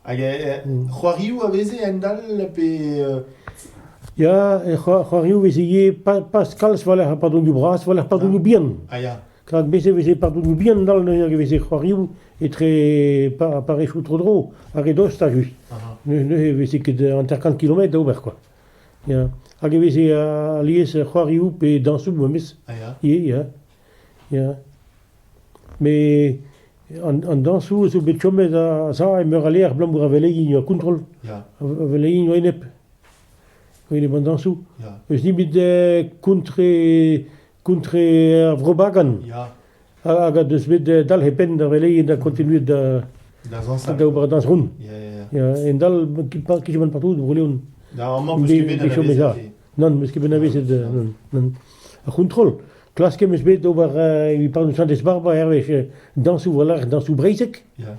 Hag c'hoarioù a veze a-hend-all pe Ya, c'hoarioù veze ivez pas kalz war-lerc'h ar padroioù bras, war-lerc'h padroioù bihan. Ah ya. Rak bez e veze padroioù bihan dall neuze, e veze c'hoarioù etre parrechoù tro-dro, ar re dost a-ju. Neuze e veze ket hanter-kant kilometr da ober, quoi. Ya, hag e veze alies c'hoarioù pe dañsoù memes ivez ya, ya, met an dañsoù zo bet chomet a-sav e meur a levr abalamour a velegin a kontrol, a velegin a-enep, a-enep an dañsoù, eus nebeut kontre Contre ar Vro-Bagan ya, hag a deus bet dalc'het penn da veleien da continuet da da zañsal. da ober dañs ront. Ya, ya, ya. Ya, en dal kichomant partout eus Bro-Leon. Da amañ meus ket bet anavezet. Non, meus ket bet anavezet, euh, non, non. Ar c'hontrol, klasket meus bet ober uh, e parnoù Santez-Barbara hervez, uh, dañsoù voilà, dañsoù breizhek. Ya,